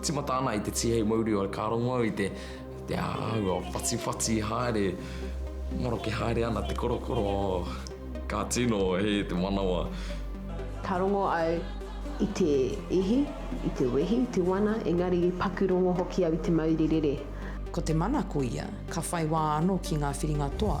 Timata ana i te Tihei Mauri o Ka rongo au i te te āhua whatiwhati haere maroke haere ana te korokoro ka tino hē te manawa. Ka rongo au i te ihi, i te wehi, i te wana engari i paku rongo hoki au i te mauri rere. Ko te mana ko ia ka whai wā anō ki ngā whiringa toa.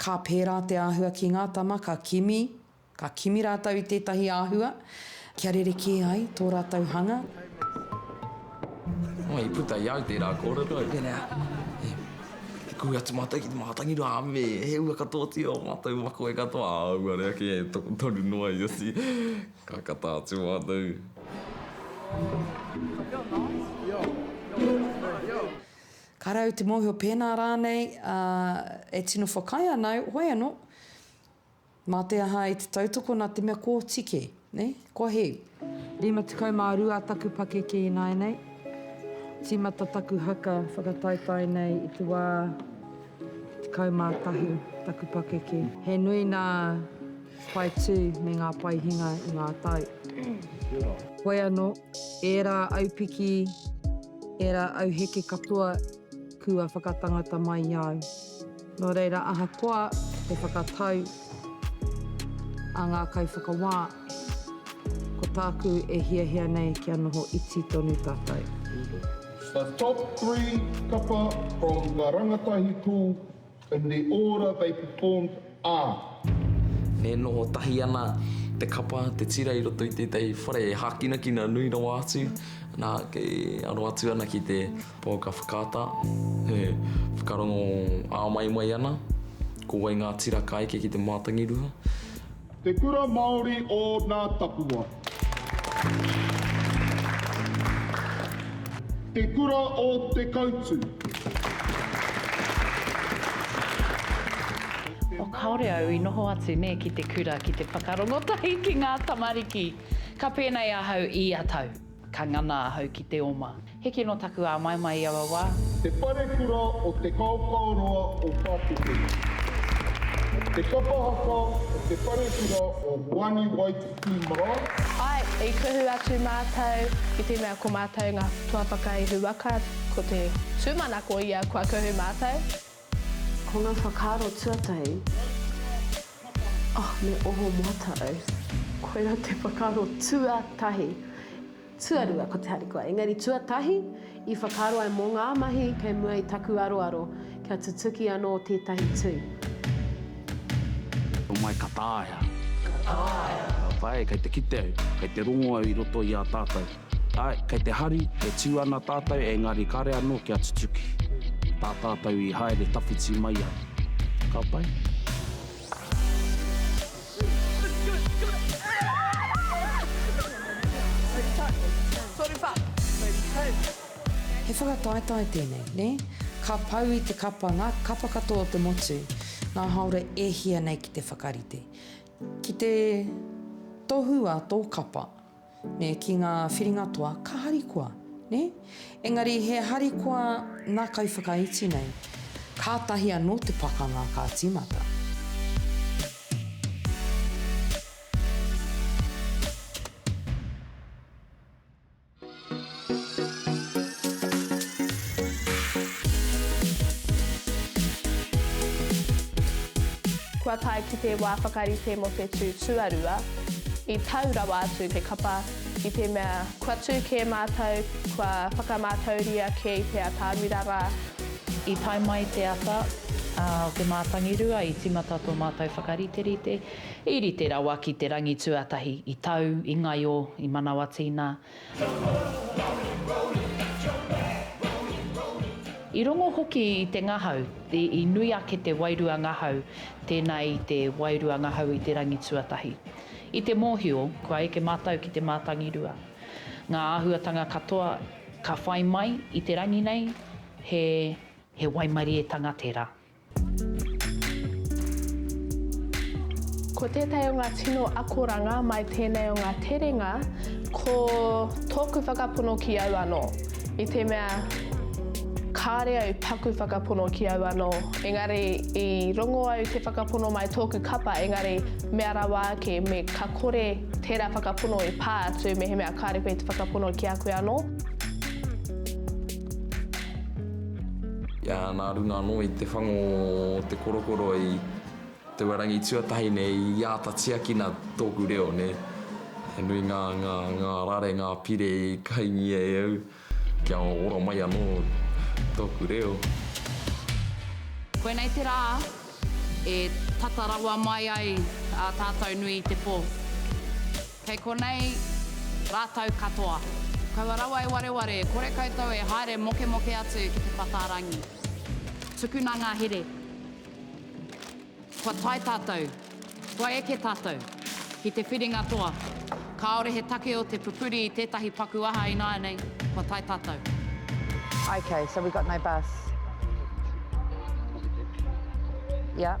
Ka pērā te āhua ki ngā tama ka kimi, ka kimi rātou i tētahi āhua kia rerekē ai tō rātou hanga. Nō i puta i au tērā kōrero, e pēnei ana, e, Te kui atu mātou ki te mātangi rā, me he ua katoatia o mātou makoe katoa, ā, auare ake e tokotoru noa i a si, ka kata atu mātou. Ka rau te mōhio pēnā rānei e tino whakaae ana au, hoi anō, mā te aha i te tautoko nā te mea kōti kē, nē? Kua hē. 52 taku pakeke ināianei, tīmata taku haka whakataetae nei i te wā 11 taku pakeke. He nui nā. Pae tū me ngā pae hinga i ngā tau. Hoi anō, ērā aupiki, ērā auheke katoa kua whakatangata mai i a au. Nō reira, ahakoa te whakatau a ngā kaiwhakawā, ko tāku e hiahia nei kia noho iti tonu tātou. The top three kapa from the rangatahi pū In the order they performed are. E noho tahi ana te kapa, te tira i roto i tētahi whare e hākinakina nui rawa atu, nā, kei aro atu ana ki te pouaka whakaata, e whakarongo āmaimai ana ko wai ngā tira ka eke ki te mātangirua. Te Kura Māori o Nā Tapua. Te Kura o Te Kautu. Oh kaore au i noho atu ne ki te kura ki te whakarongo tahi ki nga tamariki. Ka penei ahau ia tau. Ka ngana ahau ki te oma. Heke no taku āmaimai i aua wā. Te Parekura o Te Kaokaoroa o Pākete. Te kapa haka o Te Parekura o Wani Waititi Marae. Ae, i kuhu atu mātou ki te mea ko mātou ngā tuawhakaihu waka, ko te tūmanako ia kua kuhu mātou. Ko ngā whakaaro tuatahi, oh, me oho moata au. Koirā te whakaaro tuatahi. Tuarua ko te harikoa, engari tuatahi i whakaaro ai mō ngā mahi kei mua i taku aroaro kia tutuki anō tētahi tui. Homai ka taea. Ka taea. Ka taea, kei te kite au, kei te rongo au i roto i a tātou. Āe, kei te hari, e tū ana tātou, engari kāre anō kia tutuki. Tā tātou i haere tawhiti mai ai. Ka pai? He whakataetae tēnei, nē? Ka pau i te kapa ngā kapa katoa o te motu, ngā hāora e hia nei ki te whakarite. Ki te tohu a tō kapa, Nē, ki ngā whiringa toa, ka harikoa, nē? Engari he harikoa nā kaiwhakaiti nei, kātahi anō te pakanga ka tīmata. Kua tae ki te wā whakarite mō te tū tuarua, i tau rawa atu te kapa i te mea kua tū kē mātou, kua whakamātauria kē i te atāmira rā. I tae mai te ata o te mātangirua, i tīmata tō mātou whakariterite, i rite rawa ki te rangi tuatahi, i tau, i ngaio, i manawa tīna. I rongo hoki i te ngahau, i nui ake te wairua ngahau, tēnā i te wairua ngahau i te rangi tuatahi. I te mōhio, kua eke mātou ki te mātangirua. Ngā āhuatanga katoa ka whai mai i te rangi nei, he waimarietanga tērā. Ko tētahi o ngā tino akoranga mai tēnei o ngā terenga, ko tōku whakapono ki au anō, i te mea, kāre au taku whakapono ki au anō, engari i rongo au te whakapono mai tōku kapa, engari mea rawa ake me ka kore tērā whakapono i pā atu mehemea kāre koe te whakapono ki a koe anō. Nā runga anō i te whango o te korokoro i te wā rangi tuatahi nei i āta tiakina tōku reo nē. He nui ngā, ngā, ngā rare, ngā pire i kaingia e au kia ora mai anō tōku reo. Koinei te rā e tata rawa mai ai a tātou nui i te pō. Kei konei rātou katoa. Kaua rawa e wareware, kore koutou e haere mokemoke atu ki te pataarangi. Tukuna ngā here. Kua tae tātou, kua eke tātou ki te whiringa toa. Kāore he take o te pupuri i tētahi paku aha ināianei, kua tae tātou. Ok, so we got no bus. Yep.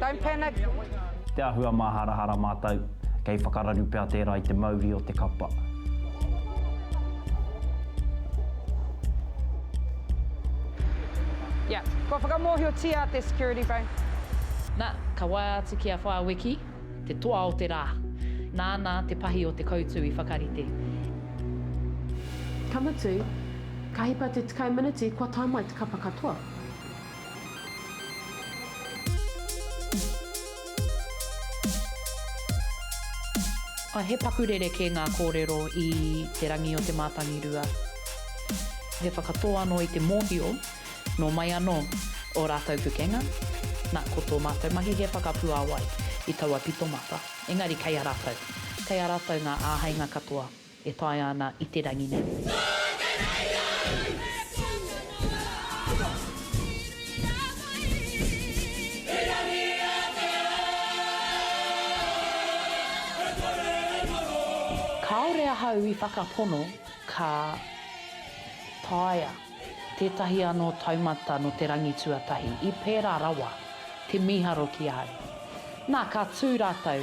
Don't panic! Te āhua māharahara mātou, kei whakararu pea tērā i te mauri o te kapa. Yeah, kua whakamōhiotia te security phone. Na, ka waea atu ki a Whāwiki, te toa o te rā. Nāna te pahi o te koutu i whakarite. Ka mutu, ka hipa te tekau miniti kua tae mai te kapa katoa. He paku rerekē ngā kōrero i Te Rangi o Te Mātangirua. He whakatō anō i te mōhio, nō mai anō ō rātou pukenga, nā, ko tō mātou mahi he whakapuāwai i taua pitomata, engari kei a rātou, kei a rātou ngā āheinga katoa. E taea ana i te rangi nei. Nō te rangi au e puta noa. Puta! Iri a wai. I rangi a te ao. E kore e maro. Kāore ahau i whakapono ka taea tētahi anō taumata nō te rangi tuatahi i pērā rawa te mīharo ki ahau. Nā, ka tū rātou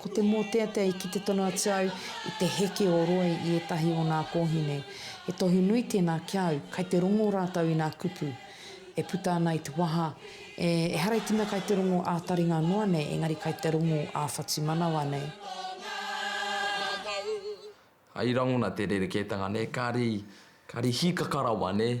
Ko te mōteatea ki te tono atu au i te heke o Roy i ētahi o nā kōhine. He tohu nui tēnā ki au, kai te rongo rātou i nā kupu e puta ana i te waha, e, ehara i te mea kai te rongo ā-taringa noa nei, engari kai te rongo ā-whatumanawa nei. Hai rangona te rerekētanga nei, kāri, kāri hīkaka rawa nei.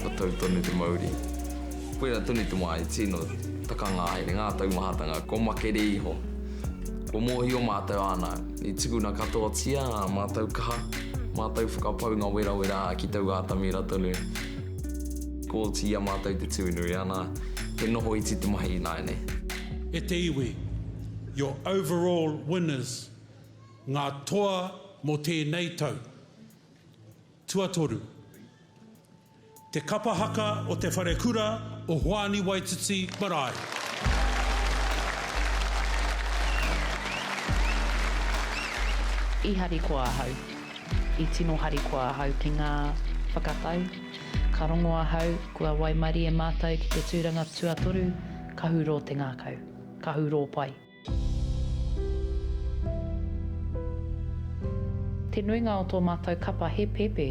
Ka tau tonu te mauri. Koirā tonu te wā e tino takanga ai ngā taumahatanga kua makere iho. Kua mōhio mātou āna i tukuna katoatia ā mātou kaha, mātou whakapaunga werawera ki taua atamira tonu. Kooti i a mātou te tū nui ana, he noho iti te mahi ināianei. E te iwi, your overall winners, ngā toa mō tēnei tau. Tuatoru. Te kapa haka o te wharekura o Hoani Waititi marae. I harikoa ahau, i tino harikoa ahau ki ngā whakatau. Ka rongo ahau, kua waimarie mātou ki te tūranga tuatoru, kahu rō te ngākau, kahu rō pai. Te nuinga o tō mātou kapa he pēpē,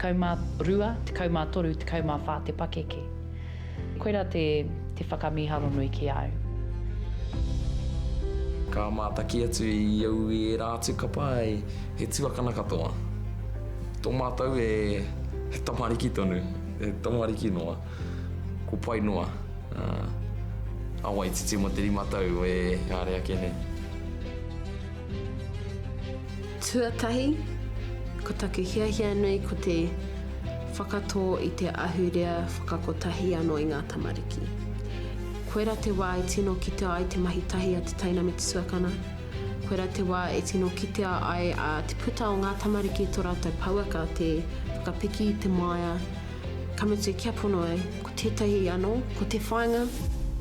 12, 13, 14 te pakeke. Koirā te te whakamīharo nui ki a au. Ka mātaki atu i au i ērā atu kapa ai, he tuakana katoa. Tō mātou e, he tamariki tonu, he tamariki noa. Ko pai noa a Waititi mo te rima tau e haere ake nei. Tuatahi, ko taku hiahia nui ko te whakatō i te ahurea whakakotahi anō i ngā tamariki. Koira te wā e tino kitea ai te mahi tahi a te teina me te tuakana, koira te wā e tino kitea ai a te puta o ngā tamariki i tō rātou pouaka te whakapiki i te māia, Ka mutu kia pono ai, ko tētahi anō, ko te whāinga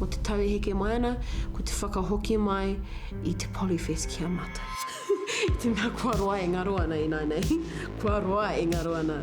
o te tau e heke mai ana, ko te whakahoki mai i te Polyfest ki a mātou. I te mea kua roa e ngaro ana ināianei, kua roa e ngaro ana.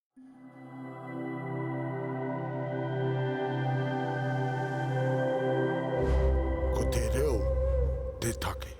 Ko te reo te take.